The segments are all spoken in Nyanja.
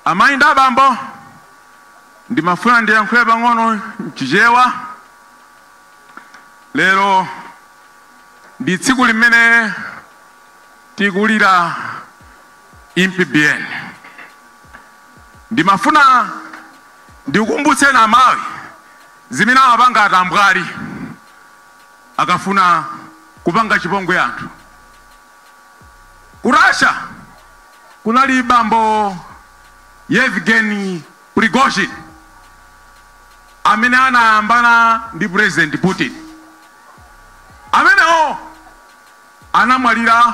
Amayi ndi abambo, ndimafuna ndiyankhule pang'ono m'Chichewa. Lero ndi tsiku limene tikulira Impi Biyeni. Ndimafuna ndikukumbutseni a Malawi zimene amapanga atambwali akafuna kupanga chipongwe anthu. Ku Russia kunali bambo Yevgeny Prigozhin amene anayambana ndi President Putin. Amenewo anamwalira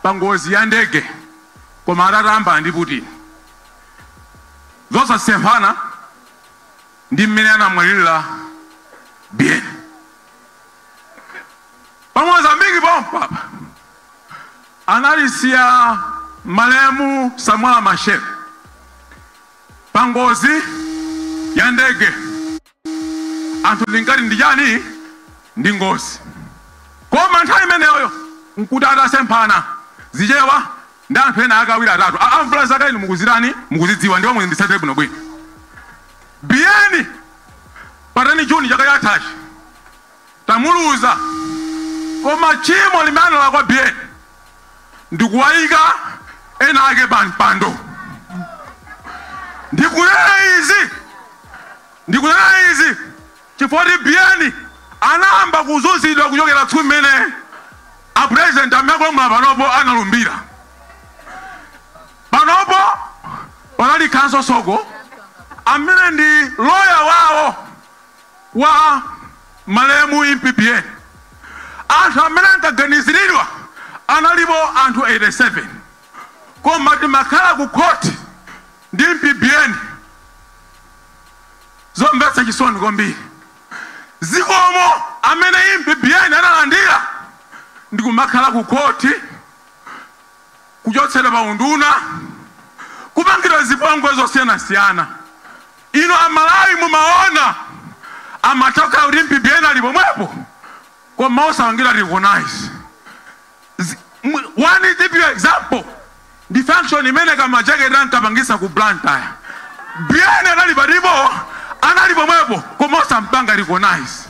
pa ngozi ya ndege koma atatayambana ndi Putin. Zosasemphana ndi mmene anamwalirira Biyeni. pa mozambiki pompa anatisiya malemu samora machel pa ngozi ya ndege anthu tinkati ndi chani ndi ngozi koma nthawi imeneyoyo nkuti atasemphana zichewa ndi anthu ena akawiri atatu amvula zaka inu mukuzitani mukuzidziwa ndipo munditsatire bwinobwino biyeni pa 10 June chaka chathachi tamuluza, koma tchimo limene analakwa Biyeni ndikuwayika ena ake pa mpando. Ndikunena izi ndikunena izi chifukwa kuti Biyeni anayamba kuzunzidwa kuchokera tsiku limene a president amene akulamula panopo analumbira. Panopo panali Counsel Soko amene ndi lawyer wawo wa malemu Impi Biyeni. Anthu amene ankaganiziridwa analipo anthu 87 koma timakhala ku court ndi Impi Biyeni. Zomvetsa chisoni kwambiri. Zikomo amene Impi Biyeni analandira ndi kumakhala ku court kuchotsedwa pa unduna, kupangidwa zipongwe zosiyanasiyana. Inu a Malawi mumaona amatha kukhala kuti Impi Biyeni ali pomwepo koma osapangidwa recognize. Zi- mu- One give you example ndi function imene kamajekete ankapangisa ku Blantyre. Biyeni anali palipo anali pomwepo koma osampanga recognize.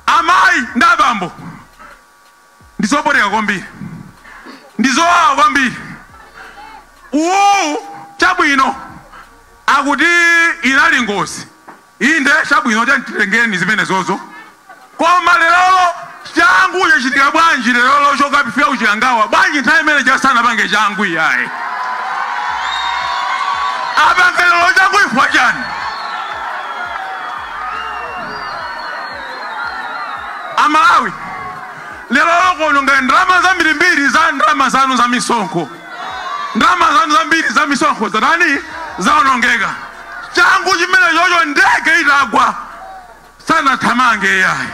Amayi ndi abambo ndi zopweteka kwambiri, ndi zowawa kwambiri. Uwu, chabwino, akuti inali ngozi. Inde, chabwino, titengeni zimenezozo. Koma lerolo changu chachitika bwanji? Lerolo chokapitira ku Chikangawa bwanji? Nthawi imene ija sanapange changu iyayi apange lero changu chifukwa chani? A Malawi lerolo kuononga ndalama zambirimbiri za ndalama zanu za misonkho. Ndalama zanu zambiri za misonkho zatani zaonongeka. Changu chimenechocho ndege itagwa sanathamange yayi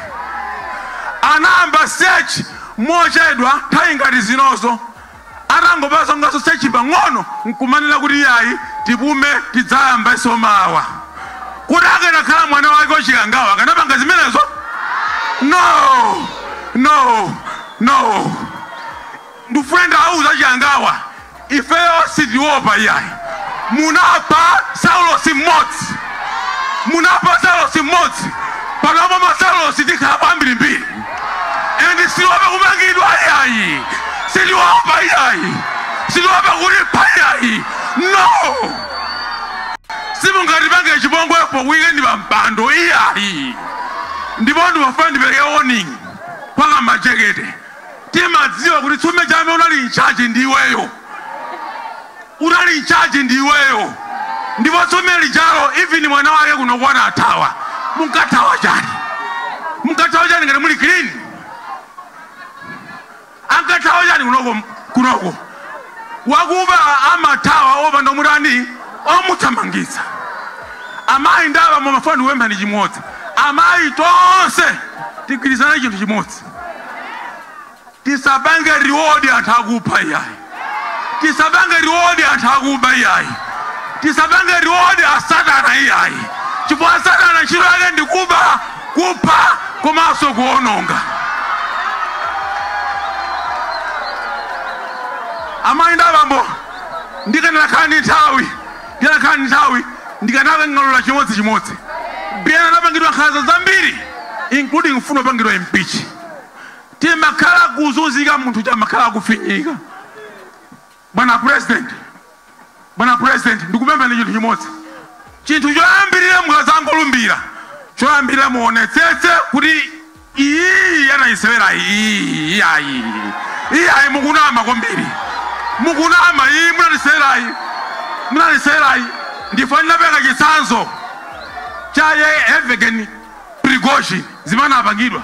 anayamba search mochedwa nthawi ngati zinozo Atangopanganso search pang'ono n'kumanena kuti, Iyayi, tipume, tidzayambenso mawa. Kodi akanakhala mwana wake wa Chikangawa akanapanga zimenezo? No! No! No! Ndikufuna nditawauza a Chikangawa, ifeyo sitiopa iyayi. Munapha Saulosi mmodzi. Munapha Saulosi mmodzi. Panopa ma Saulosi tikhalapo ambirimbiri. and sitiwopa kumangidwa iyayi sitiwopa iyayi sitiwopa kutipha iyayi no simungatipange chipongwe pokuikani pampando iyayi ndipo ndimafuna ndipereke warning kwa kamajekete timadziwa kuti tsiku limene lija amene unali in charge ndiweyo Unali in charge ndi iweyo ndipo tsiku limene lijalo even mwana wake kunoko anathawa munkathawa chani munkathawa chani ngati muli clean ankathawa chani kunoko wakuba amathawa opanda omutani omuthamangitsa amayi ndi abambo ndimafuna ndikupempheni chimodzi amayi tonse tigwirizane chinthu chimodzi Tisapange reward anthu akupha iyayi. Tisapange reward anthu akuba iyayi. Tisapange reward a satana iyayi chifukwa satana ntchito yake ndi kuba, kupha komanso kuononga. Amayi ndi abambo, ndikanakhala ndi nthawi, ndikanakhala ndi nthawi ndikanang'alula chimodzichimodzi. Biyeni anapangidwa nkhanza zambiri including kufuna kupangidwa impeach. Timakhala kuzunzika munthu uja amakhala akufinyika. Bwana president, bwana president ndikupempheni chinthu chimodzi. Chinthu choyambirira mukadzangolumbira, choyambirira muonetsetse kuti iyiyi anayisewerayi iyiyi iyayi iyayi mukunama kwambiri. Mukunama iyi munatisewerayi munatisewerayi ndifuna ndipereke chitsanzo cha Yevgeny Prigozhin zimene anapangidwa.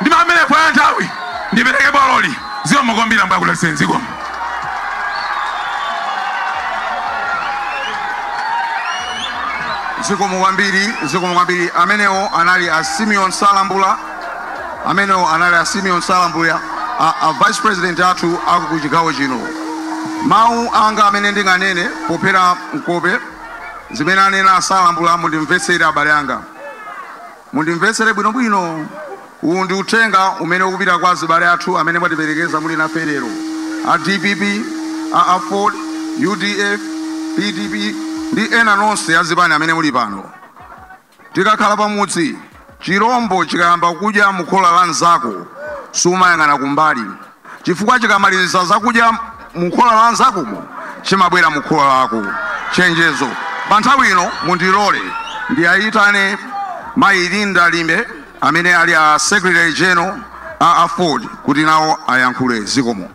ndi pamene kwa nthawi ndipereke bololi zikomo kwambiri ambuye akudalitseni zikomo zikomo kwambiri zikomo kwambiri amenewo anali a simeon salambula amenewo anali a simeon salambula a vice president athu aku chigawo chino mawu anga amene ndinganene pophera mphongo zimene anena a salambula mundimvetsere abale anga Mundimvetsere bwinobwino. Uwu ndi uthenga umene ukupita kwa azibale athu amene mwatiperekeza muli nafe lero, a dpp, a aford, udf, pdp ndi ena onse azipani amene muli pano. Tikakhala pamudzi, chilombo chikayamba kudya mukhola la mnzako, sumayang'ana kumbali. Chifukwa chikamaliziza zakudya mu khola la nzakomo chimabwera mu khola lako. Chenjezo, pa nthawi ino mundilole ndiayitane mayi Linda Limbe amene ali a Secretary General a aford kuti nawo ayankhule. Zikomo.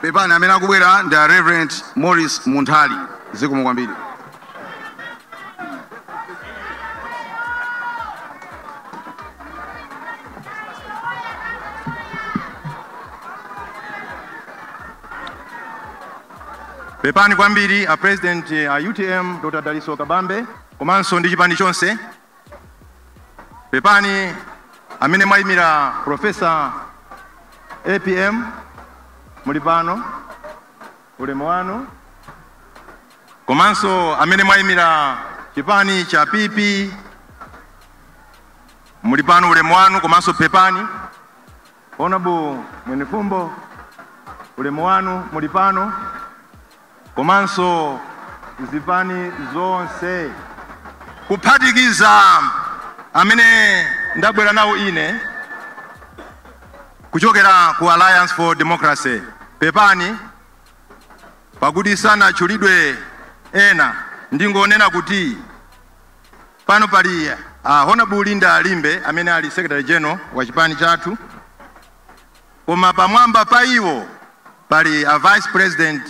pepani amene akubwera ndi a reverend morris munthali zikomo kwambiri Pepani kwambiri a president a utm Dr. Dalitso Kabambe komanso ndi chipani chonse. Pepani amene mwayimira Professor APM muli pano ulemu wanu komanso amene mwayimira chipani cha PP muli pano ulemu wanu komanso pepani Honorable Mwenifumbo, ulemu wanu muli pano komanso zipani zonse kuphatikiza amene ndabwera nawo ine kuchokera ku Alliance for Democracy. Pepani pakuti sanatchulidwe ena, ndingonena kuti Pano pali a Honorable Linda Limbe amene ali Secretary General wa chipani chathu koma pamwamba pa iwo pali a Vice President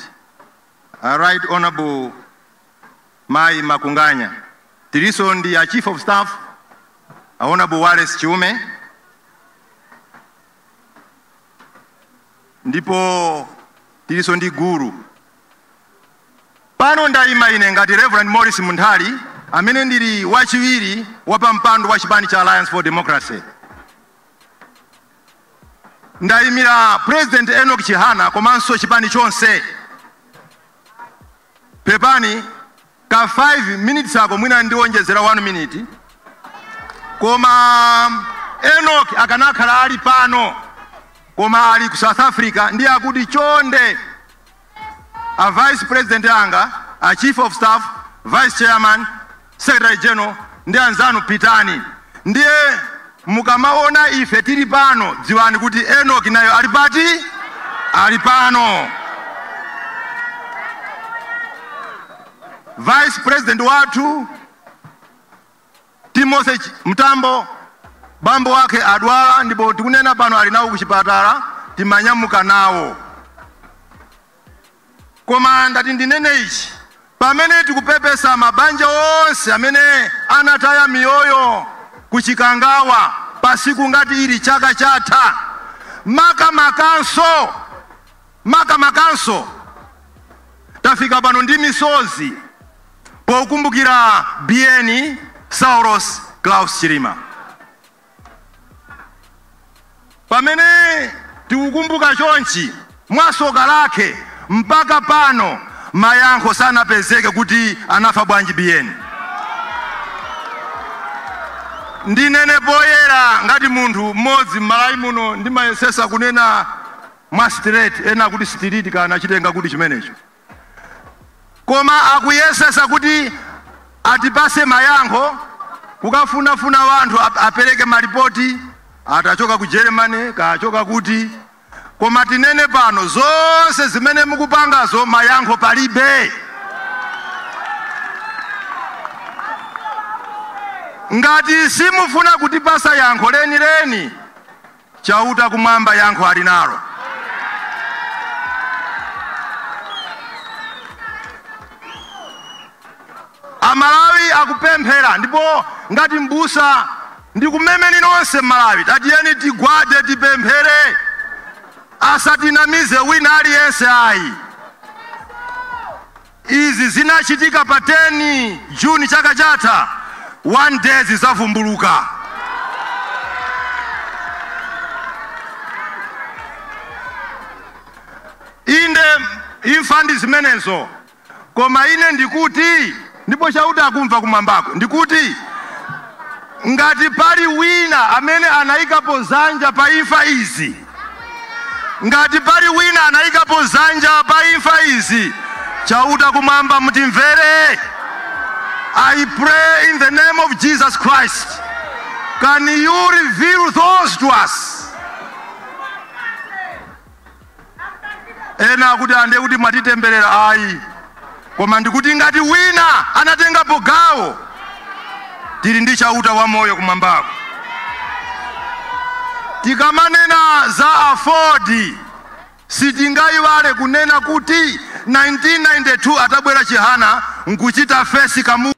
a Right Honorable Mai Makunganya. Tilinso ndi a Chief of Staff a Honorable Wallace Chiume ndipo tilinso ndi gulu Pano ndaima ine ngati Rev. Maurice Munthali amene ndili wachiwiri wapampando wa chipani cha Alliance for Democracy. Ndaimira President Enoch Chihana komanso chipani chonse. Pepani ka 5 minutes ako mwina ndiwonjezera 1 minute koma enok akanakhala ali pano koma ali ku south africa ndiye akuti chonde a vice president anga a chief of staff vice chairman secretary general ndi anzanu pitani ndiye Mukamawona ife tiri pano, dziwani kuti Enoki nayo ali pati? Ali pano. Vice President wathu Timothy Mtambo bambo wake adwala ndipo tikunena pano ali nawo kuchipatala timanyamuka nawo. Koma ndati ndinene ichi, pamene tikupepesa mabanja onse amene anataya miyoyo ku Chikangawa pasiku ngati ili chaka chatha, makamakanso makamakanso tafika pano ndi misozi pokumbukira Biyeni Saulos Klaus Chilima. Pamene tikukumbuka chonchi, mwasoka lakhe mpaka pano mayankho sanapezeke kuti anafa bwanji Biyeni. Ndinene poyera ngati munthu m'modzi m'Malawi muno ndimayesesa kunena mwa straight, ena akuti sitiriti kaya nachitenga kuti chimenecho. koma akuyesesa kuti atipase mayankho kukafunafuna wanthu apereke malipoti atachoka ku germany kachoka kuti koma tinene pano zonse zimene mukupangazo mayankho palibe ngati simufuna kutipasa yankho lenileni Chauta kumwamba yankho ali nalo. Amalawi akupemphera ndipo ngati m'busa ndikumemeni nonse Malawi, tatiyeni tigwade tipemphere, asatinamize wina aliyense ayi. Izi zinachitika pa 10 June chaka chatha, one day zizavumbuluka. Inde imfa ndi zimenezo, koma ine ndikuti ndipo Chauta akumva kumwambako, ndikuti ngati pali wina amene anayikapo zanja pa imfa izi Ngati pali wina anaikapo dzanja pa imfa izi, Chauta kumwamba mutimvere. I pray in the name of Jesus Christ, can you reveal those to us? Ena akuti ande kuti mwatitemberera ayi. Koma ndikuti ngati wina anatengapo gawo, tili ndi Chauta wamoyo kumwambako. Tikamanena za AFORD sitingaiwale kunena kuti 1992 atabwera Chihana nkuchita face Kamuzu.